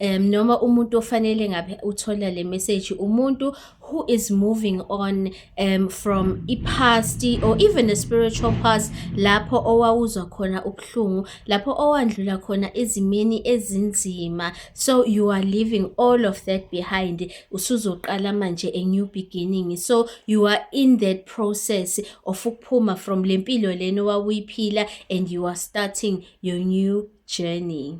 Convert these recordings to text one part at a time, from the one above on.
um noma umuntu ofanele ngabe uthola le message umuntu who is moving on um from i-past or even a spiritual past lapho owawuzwa khona ubuhlungu lapho owandlula khona ezimeni ezinzima so you are leaving all of that behind usuzoqala manje a new beginning so you are in that process of ukuphuma from le mpilo lena owawuyiphila and you are starting your new journey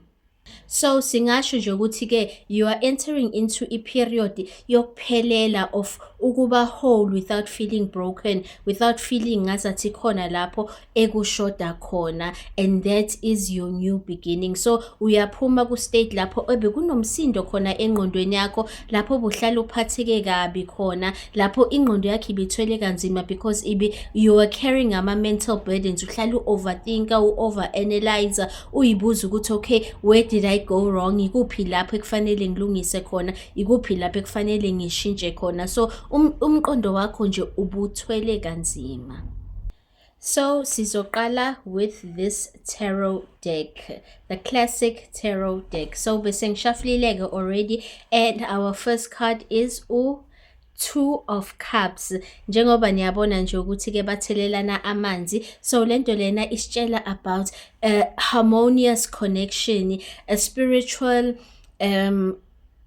So singasho nje ukuthi ke you are entering into a period yokuphelela of ukuba whole without feeling broken without feeling ngazathi khona lapho ekushoda khona and that is your new beginning so uyaphuma ku state lapho ebe kunomsindo khona engqondweni yakho lapho buhlala uphatheke kabi khona lapho ingqondo yakhe ibithwele kanzima because ibi you are carrying ama mental burdens uhlala u overthinker u over analyzer uyibuza ukuthi okay where did i go wrong ikuphi lapho ekufanele ngilungise khona ikuphi lapho ekufanele ngishintshe khona so um, umqondo wakho nje ubuthwele kanzima so sizoqala with this tarot deck the classic tarot deck so bese ngishafulile-ke already and our first card is u two of cups njengoba niyabona nje ukuthi ke bathelelana amanzi so lento lena isitshela about a harmonious connection a spiritual um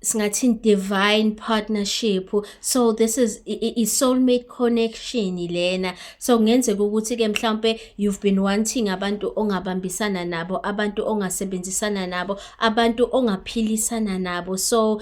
singathini divine partnership so this is i soulmate connection lena so kungenzeka ukuthi ke mhlawumbe you've been wanting abantu ongabambisana nabo abantu ongasebenzisana nabo abantu ongaphilisana nabo so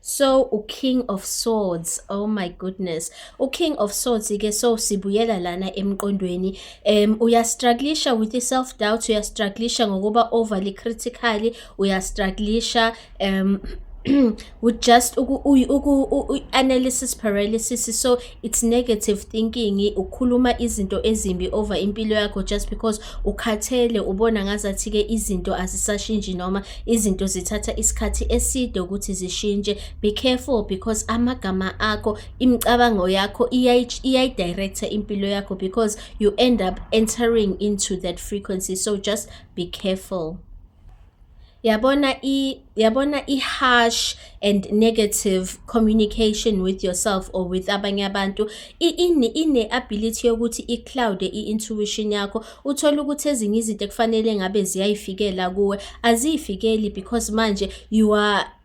so uking of swords oh my goodness uking of swords ke so sibuyela lana emqondweni um uyastrugglisha with i-self doubt uyastrugglisha ngokuba overly critical uyastrugglisha um with just uku-analysis paralysis so it's negative thinking ukhuluma izinto ezimbi over impilo yakho just because ukhathele ubona ngazathi ke izinto azisashintshi noma izinto zithatha isikhathi eside ukuthi zishintshe be careful because amagama akho imicabango yakho iyayidirector impilo yakho because you end up entering into that frequency so just be careful yabona i yabona i-harsh and negative communication with yourself or with abanye abantu ine-ability yokuthi i-cloude i-intuition yakho uthole ukuthi ezinye izinto ekufanele ngabe ziyayifikela kuwe aziyifikeli because manje you are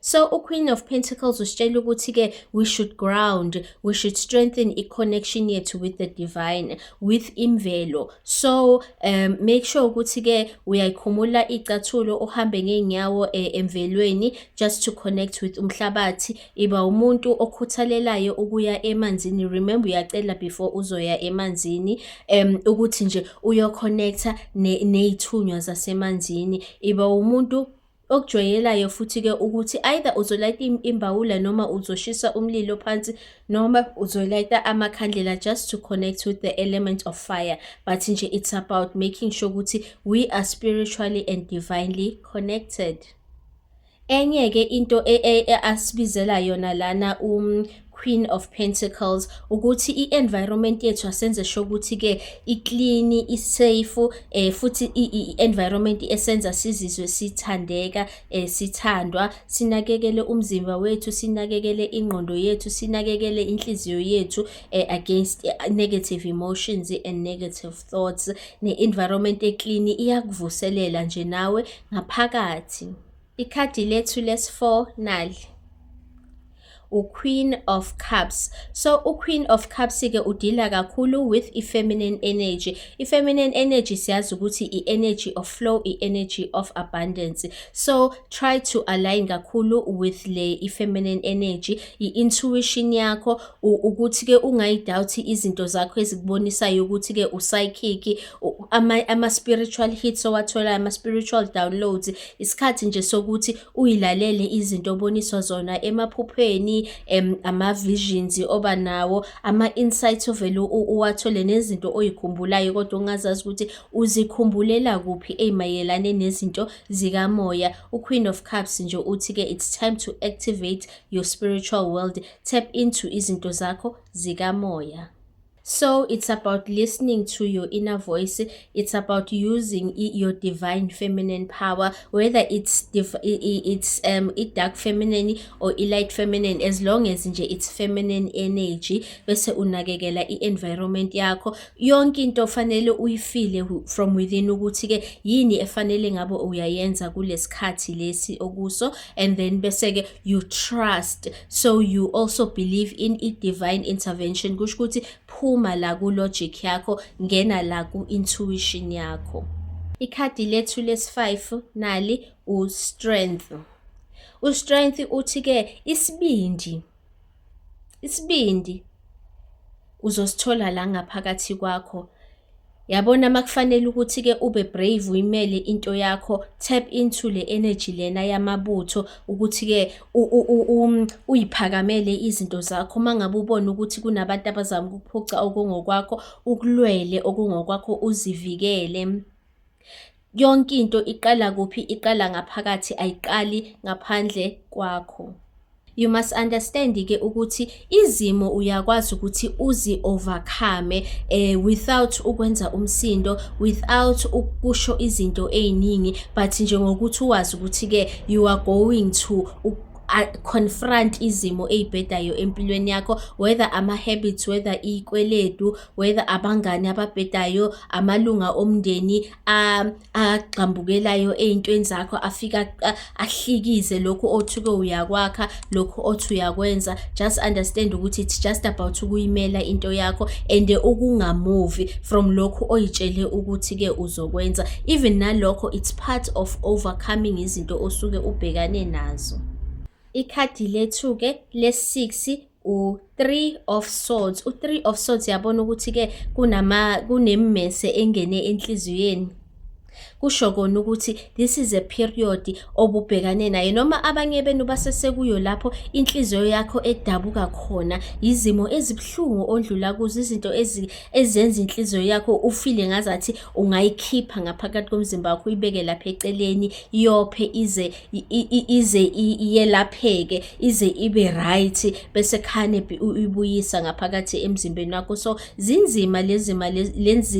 So uQueen of Pentacles usitshela ukuthi-ke we should ground, we should strengthen i-connection yethu with the divine, with imvelo. So um, make sure ukuthi-ke uyayikhumula icathulo uhambe ngey'nyawo eh, emvelweni just to connect with umhlabathi. Iba umuntu okhuthalelayo ukuya emanzini. Remember uyacela before uzoya emanzini um, ukuthi nje uyoconnecta ney'thunywa ne zasemanzini. Iba umuntu Okujwayelayo futhi-ke ukuthi either uzolayita imbawula noma uzoshisa umlilo phansi noma uzolayita amakhandlela just to connect with the element of fire but nje it's about making sure ukuthi we are spiritually and divinely connected. Enye-ke into e, e, e, asibizela yona lana um, Queen of Pentacles ukuthi i-environment yethu asenze sho ukuthi ke i-clean i-safe eh futhi i-environment esenza sizizwe sithandeka eh sithandwa sinakekele umzimba wethu sinakekele ingqondo yethu sinakekele inhliziyo yethu eh, against eh, negative emotions and negative thoughts ne-environment e-clean iyakuvuselela nje nawe ngaphakathi Ikhadi lethu lesi-4 nali. uQueen of Cups. So uQueen of Cups ke udila kakhulu with ifeminine energy. Ifeminine energy siyazi ukuthi i-energy of flow, i-energy of abundance. So try to align kakhulu with le ifeminine energy, i-intuition yakho, ukuthi-ke ungayidawuthi izinto zakho ezikubonisayo ukuthi-ke usayikhikhi ama-spiritual hits owatholayo ama-spiritual downloads isikhathi nje sokuthi uyilalele izinto oboniswa zona emaphupheni um ama-visions oba nawo ama-insights ovele uwathole nezinto oyikhumbulayo kodwa ongazazi ukuthi uzikhumbulela kuphi ey'mayelane nezinto zikamoya uqueen of cups nje uthi-ke it's time to activate your spiritual world tap into izinto zakho zikamoya so it's about listening to your inner voice it's about using your divine feminine power whether it's it's um it dark feminine or light feminine as long as nje it's feminine energy bese unakekela i-environment yakho yonke into fanele uyifile from within ukuthi ke yini efanele ngabe uyayenza kulesikhathi lesi okuso and then bese-ke you trust so you also believe in i-divine intervention kusho ukuthi phuma la ku-logic yakho ngena la ku-intuition yakho ikhadi lethu lesi-5 nali u-strength u-strength uthi-ke isibindi Isibindi uzosithola la ngaphakathi kwakho. Yabona makufanele ukuthi-ke ube brave uyimele into yakho, tap into le energy lena yamabutho ukuthi-ke um, uyiphakamele izinto zakho uma ngabe ubona ukuthi kunabantu abazama ukuphuca okungokwakho, ukulwele okungokwakho uzivikele. Yonke into iqala kuphi? Iqala ngaphakathi, ayiqali ngaphandle kwakho. You must understand ke ukuthi izimo uyakwazi ukuthi uzi overcome eh, without ukwenza umsindo without ukusho izinto eziningi but nje ngokuthi uwazi ukuthi ke you are going to confront izimo eyibhedayo empilweni yakho whether ama habits whether ikweletu whether abangani ababhedayo amalunga omndeni agxambukelayo ey'ntweni zakho afika ahlikize lokhu othuke uyakwakha lokhu othi uyakwenza just understand ukuthi it's just about ukuyimela into yakho and ukungamuvi from lokhu oyitshele ukuthi-ke uzokwenza even nalokho it's part of overcoming izinto osuke ubhekane nazo ikhadi lethu-ke le-6 u-three of swords u-three of swords yabona ukuthi-ke kunama kunemmese engene enhliziyweni kusho kona ukuthi this is a period obubhekane naye noma abanye benu basesekuyo lapho inhliziyo yakho edabuka khona izimo ezibuhlungu ondlula kuzo izinto ezenza inhliziyo yakho ufile ngazathi ungayikhipha ngaphakathi komzimba wakho uyibeke lapha eceleni yophe ize ize iyelapheke ize ibe right bese khane uyibuyisa ngaphakathi emzimbeni wakho so zinzima lezima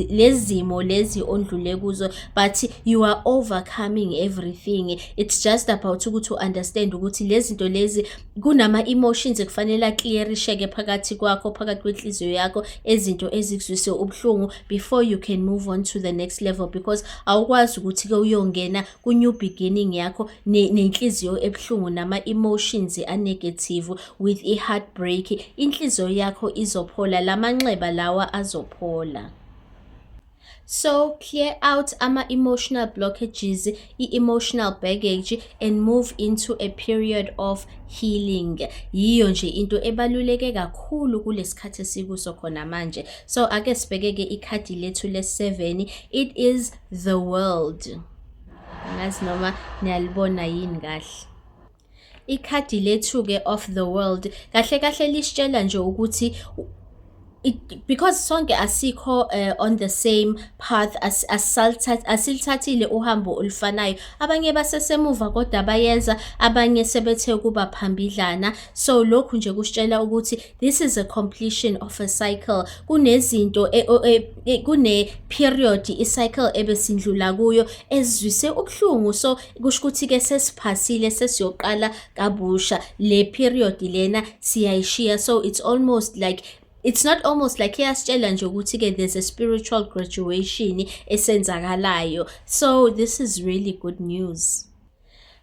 lezimo lezi ondlule kuzo but you are overcoming everything it's just about ukuthi u understand ukuthi lezinto lezi kunama emotions ekufanele clearisheke phakathi kwakho phakathi kwenhliziyo yakho ezinto ezikuzwise ubuhlungu before you can move on to the next level because awukwazi ukuthi ke uyongena ku-new beginning yakho nenhliziyo ebuhlungu nama-emotions anegative with i-heartbreak inhliziyo yakho izophola la manxeba lawa azophola so clear out ama-emotional blockages i-emotional baggage and move into a period of healing yiyo nje into ebaluleke kakhulu kulesikhathi esikuso khona manje so ake sibheke-ke ikhadi lethu le-7 it is the world angazi noma niyalibona yini kahle ikhadi lethu-ke of the world kahle kahle lisitshela nje ukuthi it, because sonke asikho uh, on the same path as asilithathile uhambo olufanayo abanye basesemuva kodwa bayenza abanye sebethe kuba phambidlana so lokhu nje kusitshela ukuthi this is a completion of a cycle kunezinto e, e, e, kune period i cycle ebesindlula kuyo ezwise ubuhlungu so kusho ukuthi ke sesiphasile sesiyoqala kabusha le period lena siyayishiya so it's almost like it's not almost like iyasitshela nje ukuthi ke there's a spiritual graduation esenzakalayo so this is really good news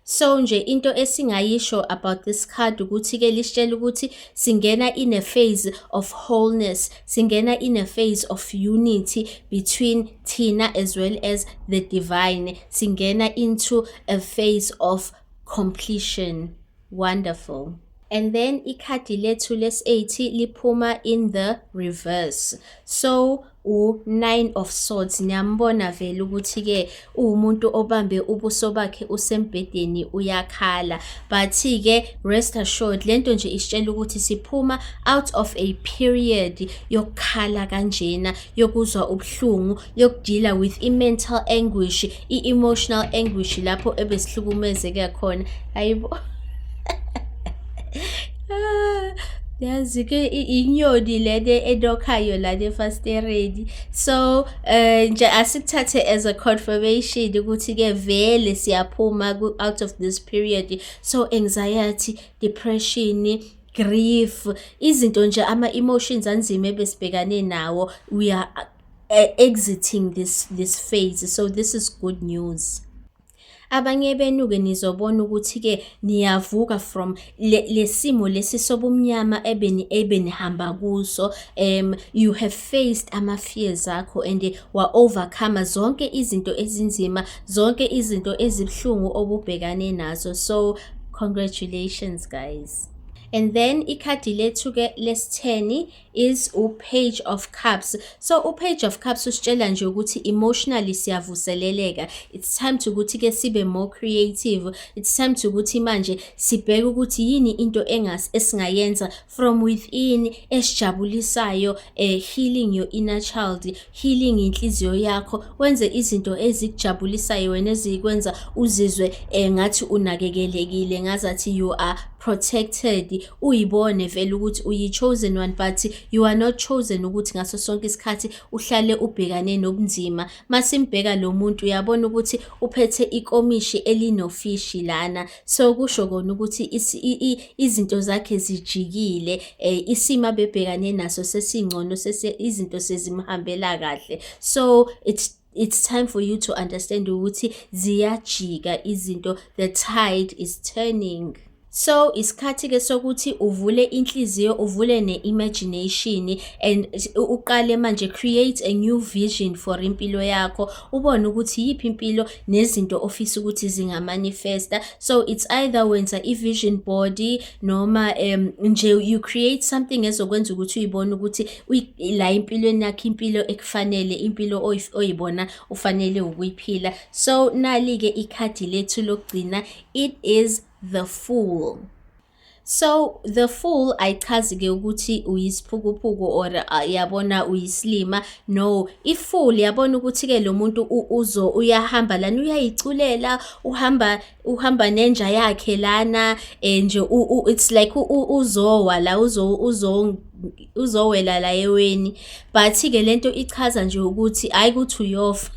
So nje into esingayisho about this card ukuthi ke lisitshela ukuthi singena in a phase of wholeness, singena in a phase of unity between thina as well as the divine. Singena into a phase of completion. Wonderful. And then ikhadi lethu lesAT liphuma in the reverse. So u-nine of swords niyambona vele ukuthi-ke uwumuntu obambe ubuso bakhe usembhedeni uyakhala but-ke rest assured le nto nje isitshela ukuthi siphuma out of a period yokukhala kanjena yokuzwa ubuhlungu yokudila with i-mental anguish i-emotional anguish lapho ebesihlukumezeke khona ayibo yazi ke inyoni lena enokhayo lana efastereni so eh nje asikuthathe as a confirmation ukuthi ke vele siyaphuma out of this period so anxiety depression grief izinto nje ama emotions anzima ebesibhekane nawo we are uh, exiting this this phase so this is good news abanye benu ke nizobona ukuthi ke niyavuka from lesimo le lesi sobumnyama ebeni ebenihamba kuso um you have faced ama fears akho and wa overcome zonke izinto ezinzima zonke izinto ezibhlungu obubhekane nazo so congratulations guys and then ikhadi lethu ke lesitheni is upage of cups so upage of cups usitshela nje ukuthi emotionally siyavuseleleka it's time to ukuthi ke sibe more creative it's time to ukuthi manje sibheke ukuthi yini into engas esingayenza from within esijabulisayo eh, healing your inner child healing inhliziyo yakho wenze izinto ezikujabulisayo wena ezikwenza uzizwe eh, ngathi unakekelekile ngazathi you are protected uyibone vele ukuthi uyi-chosen one but you are not chosen ukuthi ngaso sonke isikhathi uhlale ubhekane nobunzima masimbheka lo muntu uyabona ukuthi uphethe ikomishi elinofishi lana so kusho kona ukuthi izinto zakhe zijikile um isimo abebhekane naso sesingcono izinto sezimhambela kahle so it's it's time for you to understand ukuthi ziyajika izinto the tide is turning so isikhathi ke sokuthi uvule inhliziyo uvule ne-imagination and uqale manje create a new vision for impilo yakho ubone ukuthi yiphi impilo nezinto ofisa ukuthi zingamanifesta so it's either wenza i-vision body noma um nje you create something ezokwenza ukuthi uyibone ukuthi la empilweni yakho impilo ekufanele impilo oyibona ufanele ukuyiphila so nali-ke ikhadi lethu lokugcina it is the fool so the fool ayichazi-ke ukuthi uyisiphukuphuku or uh, yabona uyisilima no ifool yabona ukuthi-ke lo muntu uzo uyahamba lana uyayiculela uhamba uhamba nenja yakhe lana eh, nje it's like uzowa la uzowela la eweni but-ke le nto ichaza nje ukuthi hhayi ukuthi uyofa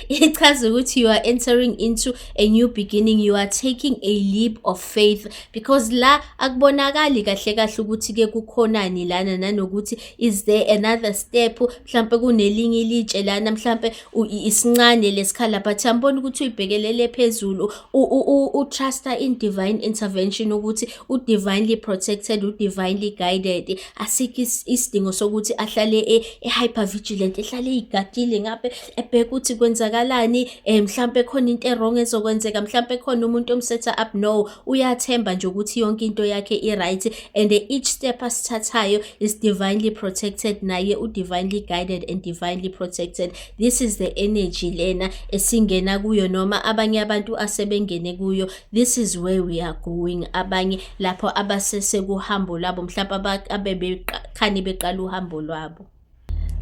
ichaza ukuthi you are entering into a new beginning you are taking a leap of faith because la akubonakali kahle kahle ukuthi ke kukhonani lana nanokuthi is there another step mhlambe kunelinye ilitshe lana mhlambe isincane lesikhala but yambona ukuthi uyibhekelele phezulu utrusta in divine intervention ukuthi udivinely protected udivinely guided asikho isidingo sokuthi ahlale e, e-hyper vigilant ehlale eyigadile ngabe ebheke ukuthi kwenzakalani um mhlawumpe khona into erong ezokwenzeka mhlawumpe khona umuntu omsetha up no uyathemba nje ukuthi yonke into yakhe i-right and each step asithathayo is divinely protected naye u-divinely guided and divinely protected this is the energy lena esingena kuyo noma abanye abantu asebengene kuyo this is where we are going abanye lapho abasesekuhambo lwabo mhlawumbe abebekhani beqala uhambo lwabo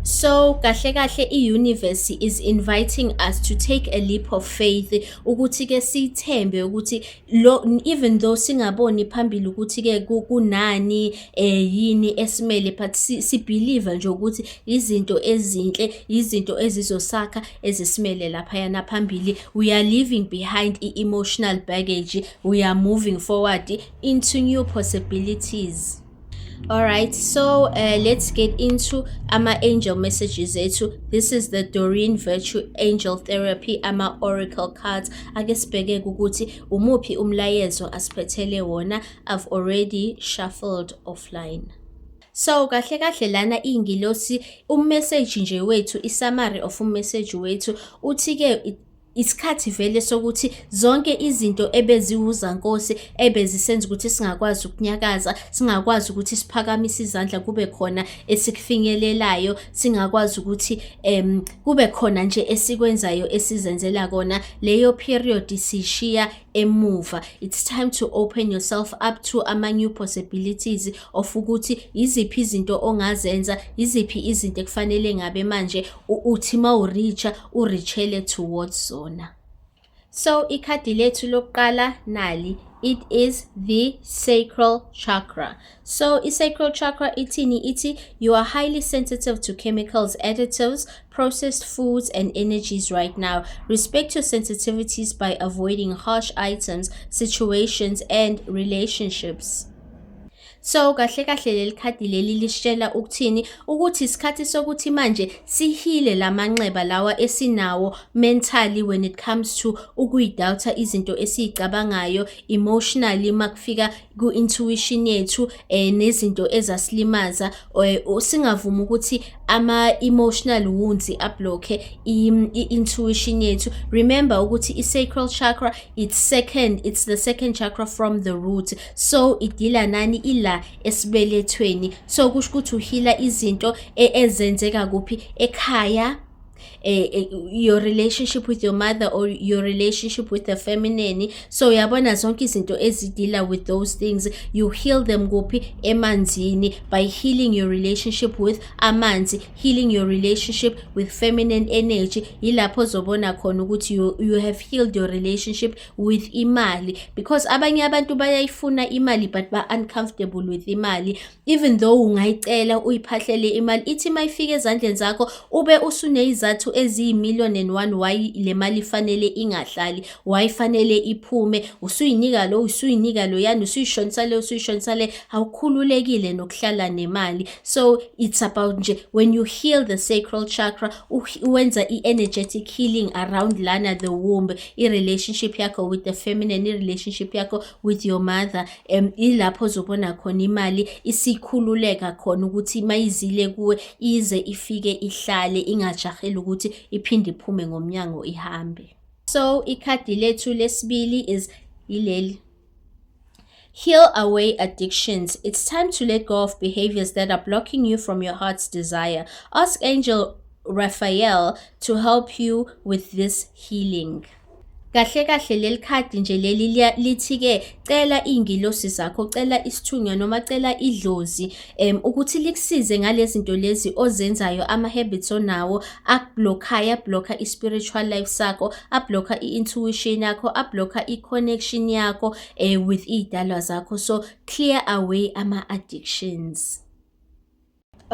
So kahle kahle i-universe is inviting us to take a leap of faith ukuthi ke sithembe ukuthi lo even though singaboni phambili ukuthi ke kunani eh yini esimele but si, si believe nje ukuthi izinto ezinhle izinto ezizosakha ezisimele lapha yana phambili we are leaving behind i emotional baggage we are moving forward into new possibilities All right, so uh, let's get into ama angel messages ethu. This is the Doreen Virtue Angel Therapy ama oracle cards. Ake sibheke ukuthi umuphi umlayezo asiphethele wona. I've already shuffled offline. So kahle kahle lana ingilosi umessage nje wethu, i summary of umessage wethu uthi ke isikhathi vele sokuthi zonke izinto ebeziwuzankosi ebezisenza ukuthi singakwazi ukunyakaza singakwazi ukuthi siphakamise izandla kube khona esikufinyelelayo singakwazi ukuthi um kube khona nje esikwenzayo esizenzela kona leyo period sishiya emuva it's time to open yourself up to ama new possibilities of ukuthi yiziphi izinto ongazenza yiziphi izinto ekufanele ngabe manje uthi ma uricha urichele towards zona so ikhadi lethu lokuqala nali it is the sacral chakra So i-sacral chakra ithini ithi you are highly sensitive to chemicals, additives, processed foods and energies right now. Respect your sensitivities by avoiding harsh items, situations and relationships. so kahle kahle leli khadi leli lisitshela ukuthini ukuthi isikhathi sokuthi manje sihile lamanxeba lawa esinawo mentally when it comes to ukuyidoubt izinto esizicabangayo emotionally makufika ku-intuition yethu um nezinto ezasilimaza um singavumi ukuthi ama-emotional wounds ablokhe i-intuition yethu remember ukuthi i-sacral chakra it's second it's the second chakra from the root so idila nani ila esibelethweni so kusho ukuthi uhila izinto e-, ezenzeka kuphi ekhaya eh, eh, your relationship with your mother or your relationship with the feminine so uyabona zonke izinto ezidila with those things you heal them kuphi emanzini by healing your relationship with amanzi healing your relationship with feminine energy yilapho ozobona khona ukuthi you, you have healed your relationship with imali because abanye abantu bayayifuna imali but ba-uncomfortable with imali even though ungayicela uyiphahlele imali ithi uma ifika ezandleni zakho ube usuneyizathu eziyi-million and one why le mali ifanele ingahlali why ifanele iphume usuyinika lo usuyinika loyani usuyishonisa le usuyishonisa le awukhululekile nokuhlala nemali so it's about nje when you heal the sacral chakra wenza i-energetic healing around lana the womb i-relationship yakho with the feminine i-relationship yakho with your mother um ilapho ozobona khona imali isikhululeka khona ukuthi mayizile kuwe ize ifike ihlale ingajaheli ukuthi iphinde iphume ngomnyango ihambe so ikhadi lethu lesibili is ileli Heal away addictions. It's time to let go of behaviors that are blocking you from your heart's desire. Ask Angel Raphael to help you with this healing. Kahle kahle leli khadi nje leli lithi-ke cela iy'ngilosi zakho, cela isithunywa noma cela idlozi um ukuthi likusize ngale zinto lezi ozenzayo ama-habits onawo akublokhayo, ablokha i-spiritual life sakho, ablokha i-intuition yakho, ablokha i-connection yakho um with iy'dalwa zakho. So clear away ama-addictions.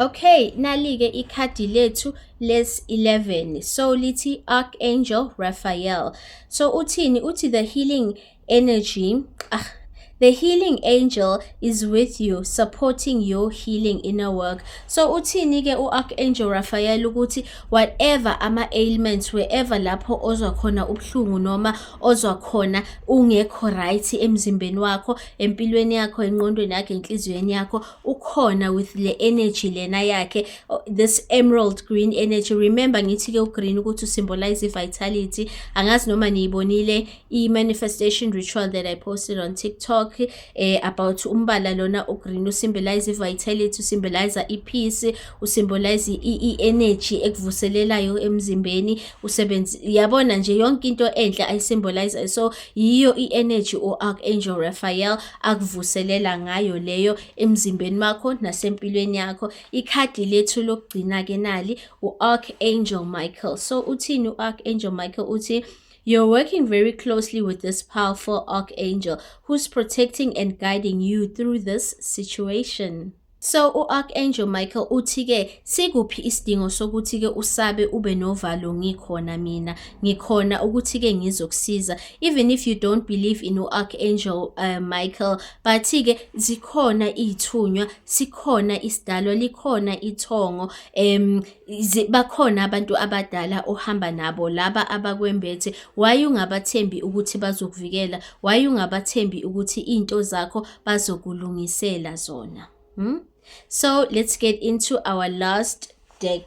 Okay, nalike ikhadi lethu les 11. So lithi Archangel Raphael. So uthini? Uthi the healing energy. Ah, the healing angel is with you supporting your healing inner work so uthini ke u-archangel raphael ukuthi whatever ama-ailments wherever lapho ozwa khona ubuhlungu noma ozwa khona ungekho right emzimbeni wakho empilweni yakho enqondweni yakho enhliziyweni yakho ukhona with le energy lena yakhe this emerald green energy remember ngithi ke ugreen ukuthi usymbolize i-vitality angazi noma niyibonile i-manifestation ritual that i posted on tiktok eh, about umbala lona ugreen usymbolize i-vitality usymbolize i-peace usymbolize i-energy ekuvuselelayo emzimbeni usebenzi yabona nje yonke into enhle ayisymbolize so Yiyo i-energy u-Archangel Raphael akuvuselela ngayo leyo emzimbeni wakho nasempilweni yakho. Ikhadi lethu lokugcina-ke nali u-Archangel Michael. So uthini u-Archangel Michael? Uthi You're working very closely with this powerful archangel who's protecting and guiding you through this situation. So u-Archangel Michael uthi-ke sikuphi isidingo sokuthi-ke usabe ube novalo ngikhona mina ngikhona ukuthi-ke ngizokusiza even if you don't believe in u-Archangel uh, Michael but-ke zikhona iy'thunywa sikhona isidalwa likhona ithongo um bakhona abantu abadala ohamba nabo laba abakwembethe why ungabathembi ukuthi bazokuvikela why ungabathembi ukuthi iy'nto zakho bazokulungisela zona hmm? so let's get into our last deck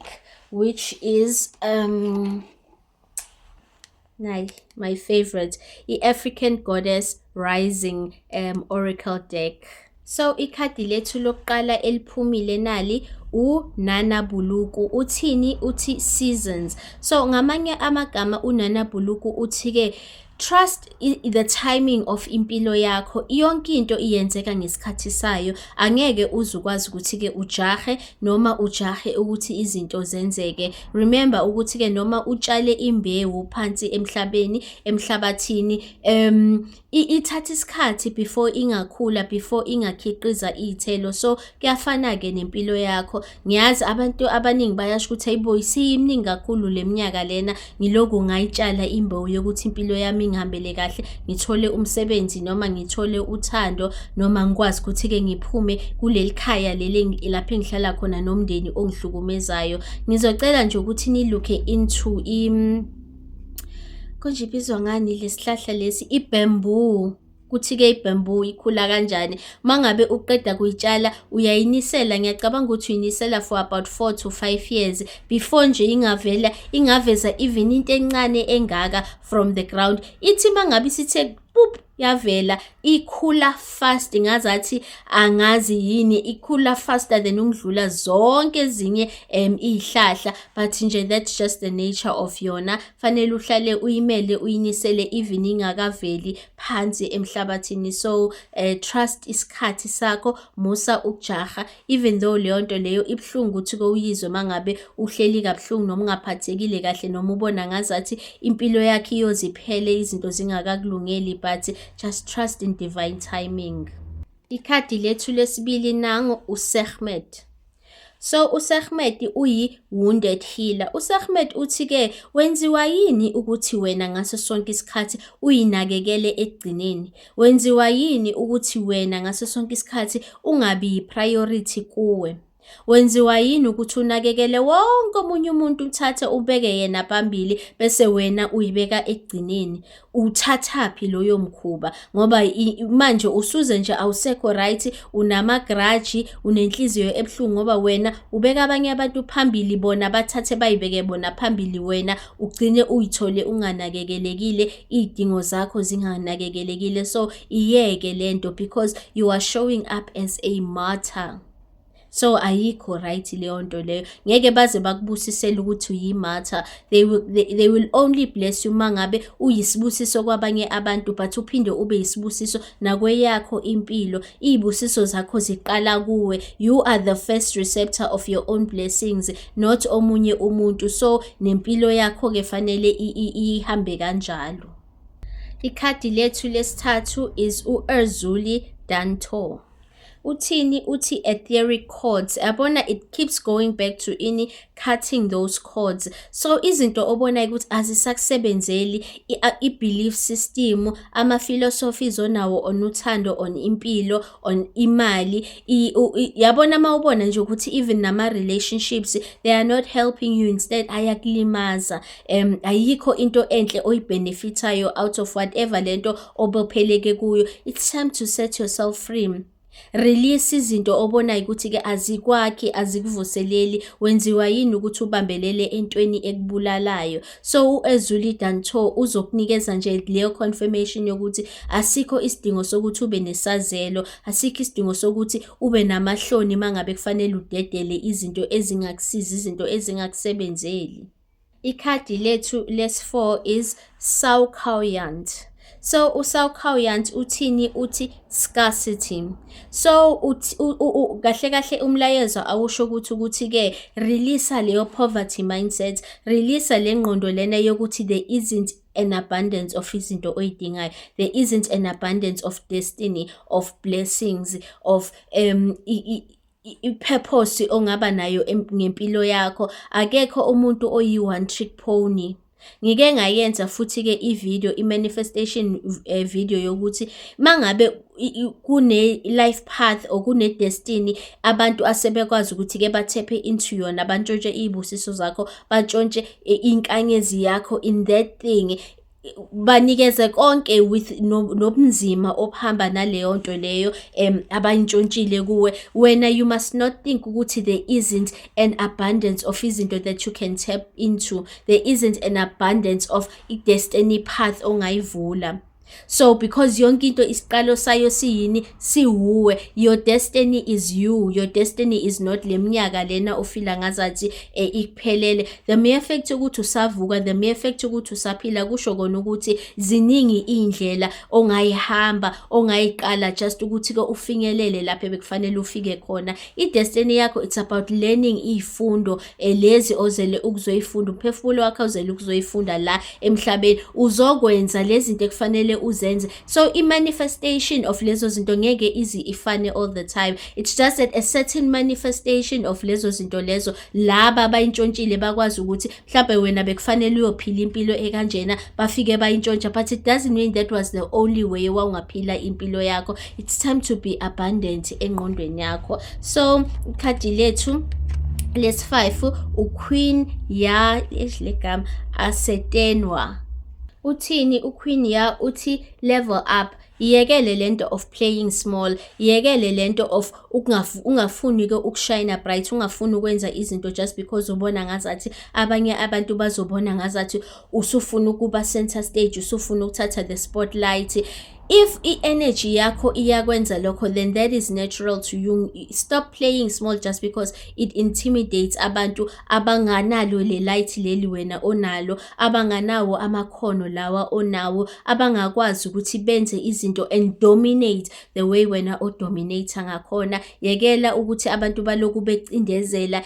which is um my, my favorite i-african goddess rising um, oracle deck so ikhadi lethu lokuqala eliphumile nali uNana Buluku uthini uthi seasons so ngamanye amagama uNana Buluku uthi ke Trust the timing of impilo yakho yonke into iyenzeka ngesikhathi sayo angeke uze ukwazi ukuthi ke ujahe noma ujahe ukuthi izinto zenzeke remember ukuthi ke noma utshale imbewu phansi emhlabeni emhlabathini um ithatha isikhathi before ingakhula before ingakhiqiza iy'thelo so kuyafana-ke nempilo yakho ngiyazi abantu abaningi bayasho ukuthi hayibo isiyimningi kakhulu le minyaka lena ngiloku ngayitshala imbewu yokuthi impilo yami ingihambele kahle ngithole umsebenzi noma ngithole uthando noma ngikwazi ukuthi-ke ngiphume kuleli khaya leli lapho engihlala khona nomndeni ongihlukumezayo ngizocela nje ukuthi nilukhe into im konje ibizwa ngani lesihlahla lesi ibamboo kuthi-ke ibamboo ikhula kanjani uma ngabe uqeda kuyitshala uyayinisela ngiyacabanga ukuthi uyinisela for about four to five years before nje ingavela ingaveza even into encane engaka from the ground ithi uma ngabe isithe pup yavela ikhula fast ngazathi angazi yini ikhula faster than ukudlula zonke ezinye um izihlahla but nje that's just the nature of yona fanele uhlale uyimele uyinisele even ingakaveli phansi emhlabathini so uh, trust isikhathi sakho musa ukujaha even though leyo nto leyo ibuhlungu ukuthi kowuyizwe mangabe uhleli kabuhlungu noma ungaphathekile kahle noma ubona ngazathi impilo yakhe iyoziphele izinto zingakakulungeli but just trust in divine timing ikhadi lethu lesibili nango usehmed So uSahmed uyi-wounded healer. USahmed uthi-ke wenziwa yini ukuthi wena ngaso sonke isikhathi uyinakekele ekugcineni? Wenziwa yini ukuthi wena ngaso sonke isikhathi ungabi yi-priority kuwe? Wenziwa yini ukuthi unakekele wonke omunye umuntu uthathe ubeke yena phambili bese wena uyibeka ekugcineni? uthathaphi loyo mkhuba ngoba manje usuze nje awusekho right unamagraji unenhliziyo ebuhlungu ngoba wena ubeka abanye abantu phambili bona bathathe bayibeke bona phambili wena ugcine uyithole unganakekelekile iy'dingo zakho zinganakekelekile so iyeke lento because you are showing up as a martyr so ayikho right leyo nto leyo ngeke baze bakubusisele ukuthi uyimatha they will, they, they will only bless you uma ngabe uyisibusiso kwabanye abantu but uphinde ube yisibusiso nakweyakho impilo iy'busiso zakho ziqala kuwe you are the first receptor of your own blessings not omunye umuntu so nempilo yakho-ke fanele ihambe kanjalo ikhadi lethu lesithathu is u-erzuli dantor uthini uthi etheric cords yabona it keeps going back to ini cutting those cords so izinto obonayo ukuthi azisakusebenzeli i-belief system ama-philosophies onawo on uthando on impilo on imali yabona uma ubona nje ukuthi even nama-relationships they are not helping you instead ayakulimaza um ayikho into enhle oyibhenefithayo out of whatever le nto obopheleke kuyo it's time to set yourself free release izinto obonayo ukuthi-ke azikwakhi azikuvuseleli wenziwa yini ukuthi ubambelele entweni ekubulalayo so u-ezuli danto uzokunikeza nje leyo confirmation yokuthi asikho isidingo sokuthi ube nesazelo asikho isidingo sokuthi ube namahloni uma ngabe kufanele udedele izinto ezingakusizi izinto ezingakusebenzeli Ikhadi lethu lesi-4 is Saukhaoyant. So uSaukhaoyant uthini uthi scarcity. So kahle kahle umlayezo awusho ukuthi ukuthi ke release leyo poverty mindset, release le ngqondo lena yokuthi there isn't an abundance of izinto oyidingayo there isn't an abundance of destiny of blessings of um i-purpose ongaba nayo ngempilo yakho akekho umuntu oyi-one trick pony ngike ngayenza futhi-ke i-video i-manifestation eh, video yokuthi mangabe kune-life path or kune-destiny abantu asebekwazi ukuthi-ke bathephe into yona bantshontshe iy'busiso zakho bantshontshe eh, inkanyezi yakho in that thing banikeze konke with nobunzima obuhamba naleyo nto leyo um abayintshontshile kuwe wena you must not think ukuthi there isn't an abundance of izinto that you can tap into there isn't an abundance of i-destiny path ongayivula so because yonke into isiqalo sayo siyini siwuwe your destiny is you your destiny is not le minyaka lena ofila ngazathi eh, ikuphelele the mere fact ukuthi usavuka the mere fact ukuthi usaphila kusho kona ukuthi ziningi indlela ongayihamba ongayiqala just ukuthi ke ufinyelele lapho bekufanele ufike khona i destiny yakho it's about learning izifundo eh, lezi ozele ukuzoyifunda umphefumulo wakho ozele ukuzoyifunda la emhlabeni uzokwenza lezi zinto ekufanele uzenze so i-manifestation of lezo zinto ngeke izi ifane all the time it's just that a certain manifestation of lezo zinto lezo laba bayintshontshile bakwazi ukuthi mhlawumbe wena bekufanele uyophila impilo ekanjena bafike bayintshontsha but it doesn't mean that was the only way wawungaphila impilo yakho it's time to be abundant engqondweni yakho so ikhadi lethu lesi-5 uqueen ya ehle gama asetenwa uthini uQueen ya uthi level up iyekele lento of playing small iyekele lento of ungafuni ke ukushayina bright ungafuni ukwenza izinto just because ubona ngazathi abanye abantu bazobona ngazathi usufuna ukuba center stage usufuna ukuthatha the spotlight if i-energy yakho iyakwenza lokho then that is natural to you stop playing small just because it intimidates abantu abanganalo lelight leli wena onalo abanganawo amakhono lawa onawo abangakwazi ukuthi benze izinto and dominate the way wena odominate ngakhona yekela ukuthi abantu baloku becindezela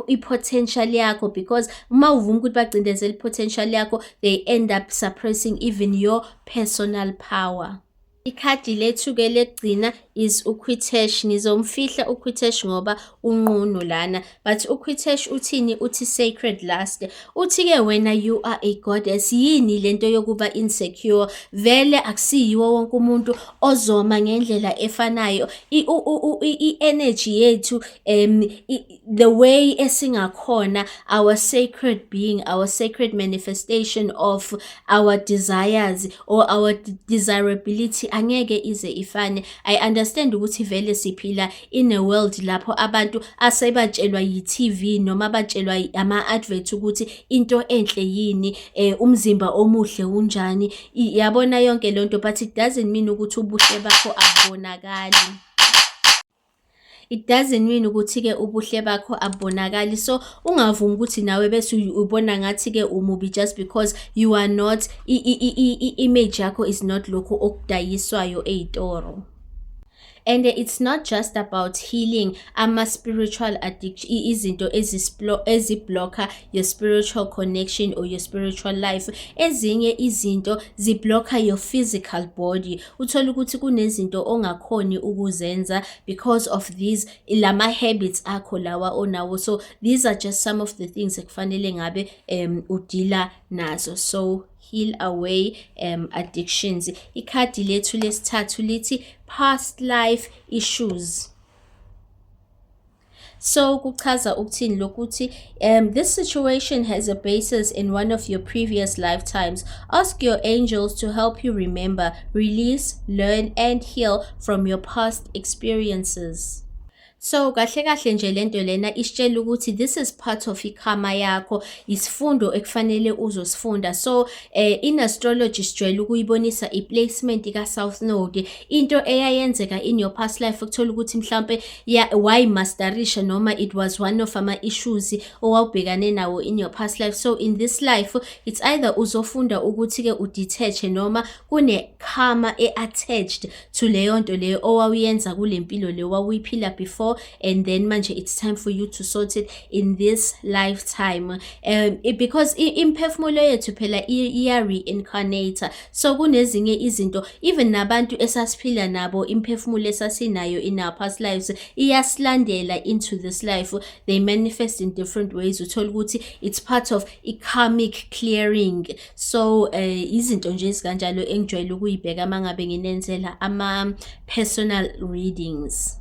i-potential yakho because uma uvuma ukuthi bacindezela i-potential yakho they end up suppressing even your personal power Ikhadi lethu-ke lekugcina is uQuitesh. Nizomfihla uQuitesh ngoba unqunu lana. But uQuitesh uthini? Uthi sacred last. Uthi-ke wena you are a goddess. Yini lento yokuba insecure? Vele akusiyiwo wonke umuntu ozoma ngendlela efanayo. I-energy yethu um the way esingakhona our sacred being our sacred manifestation of our desires or our desirability angeke ize ifane i understand ukuthi vele siphila in a world lapho abantu asebatshelwa yi-TV noma batshelwa ama advert ukuthi into enhle yini eh, umzimba omuhle unjani yabona yonke lonto but it doesn't mean ukuthi ubuhle bakho abonakali it doesn't mean ukuthi-ke ubuhle bakho abubonakali so ungavumi ukuthi nawe bese ubona ngathi-ke umubi just because you are not i-image yakho is not lokhu okudayiswayo ey'toro and it's not just about healing ama-spiritual addiction izinto eziblocker your spiritual connection or your spiritual life ezinye izinto ziblocker your physical body uthole ukuthi kunezinto ongakhoni ukuzenza because of these lama habits akho lawa onawo so these are just some of the things ekufanele ngabe um udila nazo so heal away um addictions ikhadi lethu lesithathu lithi past life issues So kuchaza ukuthini lokuthi um this situation has a basis in one of your previous lifetimes. Ask your angels to help you remember, release, learn and heal from your past experiences. So kahle kahle nje lento lena isitshela ukuthi this is part of ikhama yakho isifundo ekufanele uzosifunda so eh, in astrology sijwayele ukuyibonisa iplacement ka South Node into eyayenzeka in your past life ukuthola ukuthi mhlambe Yeah, why masterisha noma it was one of ama issues owawubhekane nawo in your past life. So in this life it's either uzofunda ukuthi ke udetach noma kune karma e attached to leyo nto leyo owawuyenza kulempilo leyo wawuyiphila before and then manje it's time for you to sort it in this lifetime. Um it, because imphefumulo yethu phela iya reincarnate. so kunezinye izinto even nabantu esasiphila nabo imphefumulo esasinayo in our past lives iyasilandela into this life they manifest in different ways uthola ukuthi it's part of i-karmic clearing so uh, izinto nje ezikanjalo engijwayele ukuyibheka uma ngabe nginenzela ama-personal readings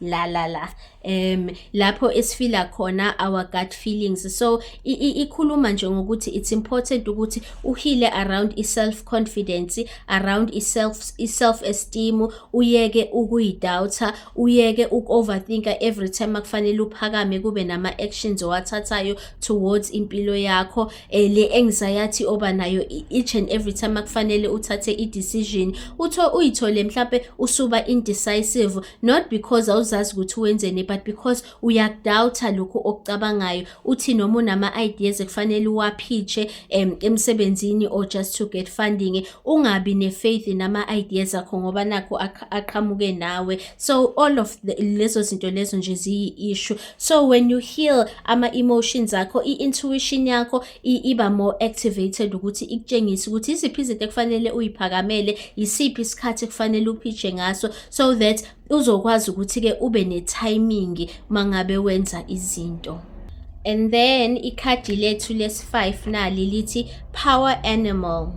la la la um lapho esifila khona our gut feelings so ikhuluma nje ngokuthi it's important ukuthi uhile around i-self confidence around i-self i-self esteem uyeke ukuyidoubter uyeke uku-overthinka every time akufanele uphakame kube nama-actions owathathayo towards impilo yakho eh le anxiety oba nayo each and every time akufanele uthathe i decision utho uyithole mhlambe usuba indecisive not because awuzazi ukuthi wenzeni but because uyakudoubta lokho okucabangayo uthi noma unama ideas ekufanele uwaphiche em emsebenzini or just to get funding ungabi ne faith nama ideas akho ngoba nakho aqhamuke nawe so all of the, lezo zinto lezo nje ziyi issue so when you heal ama emotions akho i intuition yakho iba more activated ukuthi ikutshengise ukuthi iziphi izinto ekufanele uyiphakamele isiphi isikhathi ekufanele uphitshe ngaso so that uzokwazi ukuthi ke ube ne timing mangabe wenza izinto and then ikhadi lethu lesi 5 nali lithi power animal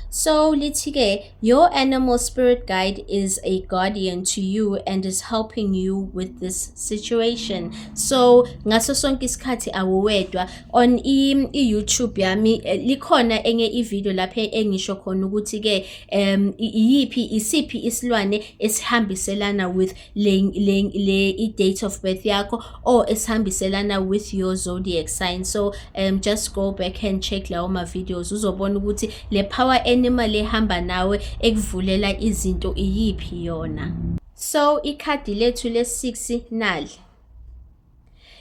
so lithi ke Your animal spirit guide is a guardian to you and is helping you with this situation. So ngaso sonke isikhathi awuwedwa on i, i YouTube yami eh, likhona enye i video lapha engisho khona ukuthi ke um iyiphi isiphi isilwane esihambiselana with le, le, le i-date of birth yakho or esihambiselana with your zodiac sign so um, just go back and check lawo ma-videos uzobona ukuthi le power animal ehamba nawe ekuvulela izinto iyiphi yona so ikhadi lethu le-six nali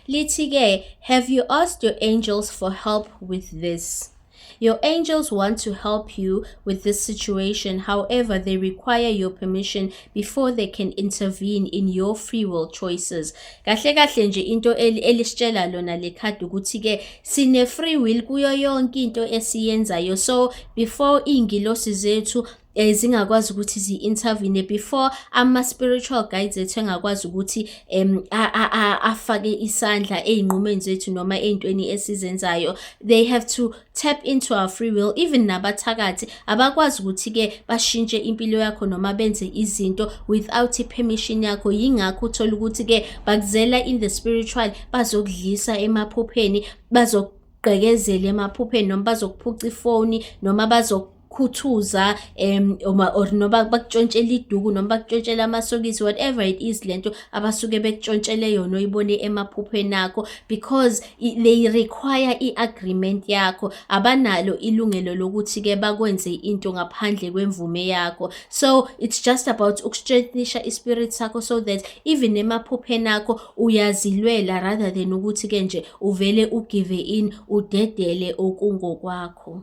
Lithi-ke, Have you asked your angels for help with this? Your angels want to help you with this situation, however, they require your permission before they can intervene in your free will choices. Kahle kahle nje into elisitshela lona le card ukuthi ke sine free will kuyo yonke into esiyenzayo. So before ingilosi zethu eh zingakwazi ukuthi zi intervene before ama spiritual guides ethu engakwazi ukuthi em afake isandla ezinqumeni zethu noma ezintweni esizenzayo they have to tap into our free will even nabathakathi abakwazi ukuthi ke bashintshe impilo yakho noma benze izinto without permission yakho yingakho uthola ukuthi ke bakuzela in the spiritual bazokudlisa emaphupheni bazokugqekezela emaphupheni noma bazokuphuca ifoni noma bazok khuthuza um or noba bakutshontshele iduku noma bakutshontshele amasokisi whatever it is lento abasuke bekutshontshele yona oyibone emaphuphweni akho because they require i-agreement yakho abanalo ilungelo lokuthi-ke bakwenze into ngaphandle kwemvume yakho so it's just about ukustrengthenisha ispirit sakho so that even emaphupheni akho uyazilwela rather than ukuthi-ke nje uvele ugive in udedele okungokwakho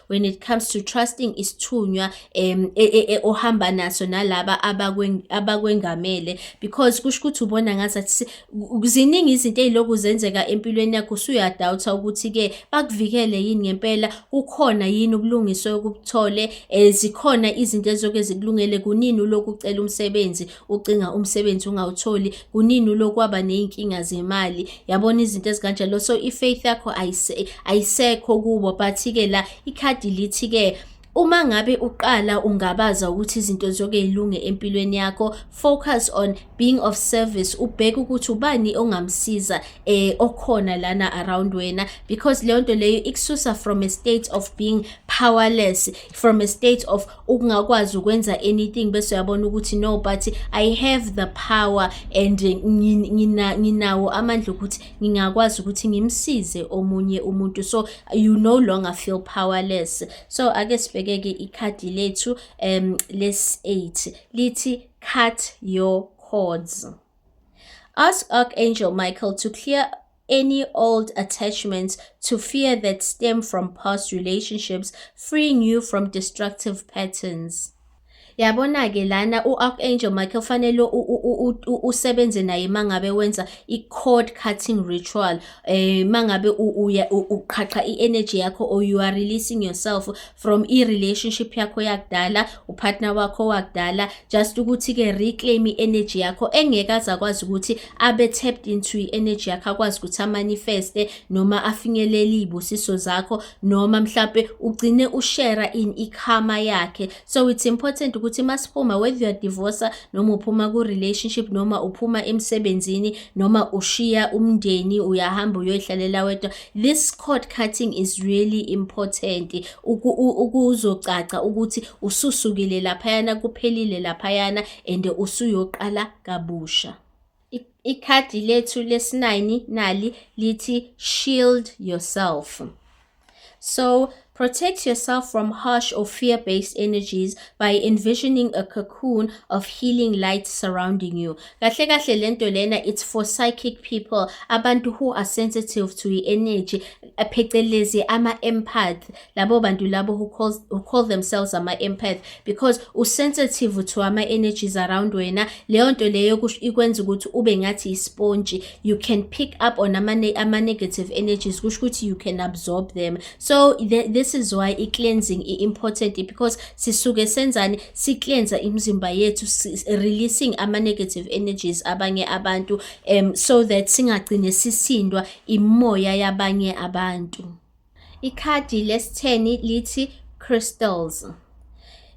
when it comes to trusting isithunywa um e, e, e, ohamba naso nalaba abakwengamele because kusho ukuthi ubona ngazathi ziningi izinto eziloku zenzeka empilweni yakho usuyadawutha ukuthi-ke bakuvikele yini ngempela kukhona yini ubulungiswa okubuthole um zikhona izinto ezizoke zikulungele kunini uloku ucela umsebenzi ucinga umsebenzi ungawutholi kunini ulokwaba ney'nkinga zemali yabona izinto ezikanjalo so i-faith yakho ayisekho kubo but-ke la ikhadi lithi-ke Uma ngabe uqala ungabaza ukuthi izinto zonke zilunge empilweni yakho, focus on being of service, ubheke ukuthi ubani ongamsiza eh okhona lana around wena because leyo nto leyo ikususa from a state of being powerless, from a state of ukungakwazi ukwenza anything bese uyabona ukuthi no but i have the power and nginawo amandla ukuthi ngingakwazi ukuthi ngimsize omunye umuntu so you no longer feel powerless so ake sibhekeke ikhadi lethu um les 8 lithi cut your cords ask archangel michael to clear any old attachments to fear that stem from past relationships, freeing you from destructive patterns. yabona-ke lana u-archangel michael fanele usebenze naye uma ngabe wenza i-cord cutting ritual um eh, uma ngabe uqhaqha i-energy yakho or you are releasing yourself from i-relationship yakho yakudala upartner wakho wakudala just ukuthi-ke reclaim i-energy yakho engeke aze akwazi ukuthi abe tapped into i-energy yakho akwazi ukuthi amanifeste noma afinyelele iy'busiso zakho noma mhlampe ugcine ushera in ikhama yakhe so it's important ukuthi uma siphuma whether youare divorcer noma uphuma ku-relationship noma uphuma emsebenzini noma ushiya umndeni uyahamba uyoyihlalela wedwa This cord cutting is really important ukuzocaca ukuthi ususukile laphayana kuphelile laphayana and usuyoqala kabusha. Ikhadi lethu lesinayini nali lithi shield yourself. So Protect yourself from harsh or fear based energies by envisioning a cocoon of healing light surrounding you. Kahle kahle lento lena it's for psychic people, abantu who are sensitive to the energy, phecelezi ama empath, labo bantu labo who calls who call themselves ama empath because u sensitive to ama energies around wena. Leyo nto leyo ikwenza ukuthi ube ngathi isponge. You can pick up on ama, ama negative energies, kusho ukuthi you can absorb them. so th this is why i-cleansing i-important because sisuke senzani si-cleansa imizimba yethu releasing ama-negative energies abanye abantu um so that singagcine sisindwa imoya yabanye abantu ikhadi lesitheni lithi crystals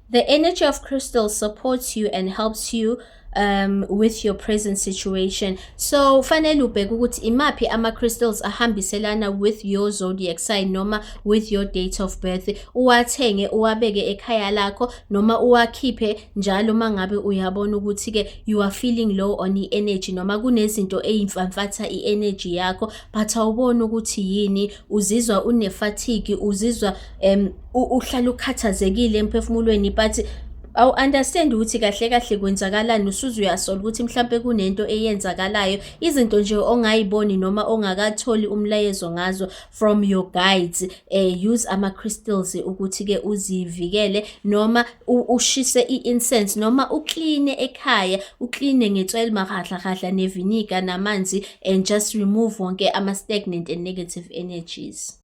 The energy of crystal supports you and helps you um with your present situation so fanele ubheke ukuthi imaphi ama crystals ahambiselana with your zodiac sign noma with your date of birth uwathenge uwabeke ekhaya lakho noma uwakhiphe njalo mangabe uyabona ukuthi ke you are feeling low on i energy noma kunezinto ezimfamfatha i energy yakho but awubona ukuthi yini uzizwa une fatigue uzizwa um uhlala ukhathazekile emphefumulweni but awu-understand ukuthi kahle kahle kwenzakalani usuze uyasola ukuthi mhlawumpe kunento eyenzakalayo izinto nje ongayiboni noma ongakatholi umlayezo ngazo from your guides eh, use ama-crystals ukuthi-ke uzivikele noma ushise i-incense noma ukline ekhaya ukline ngetswele mahahlahahla neviniga namanzi and just remove wonke ama-stagnant and negative energies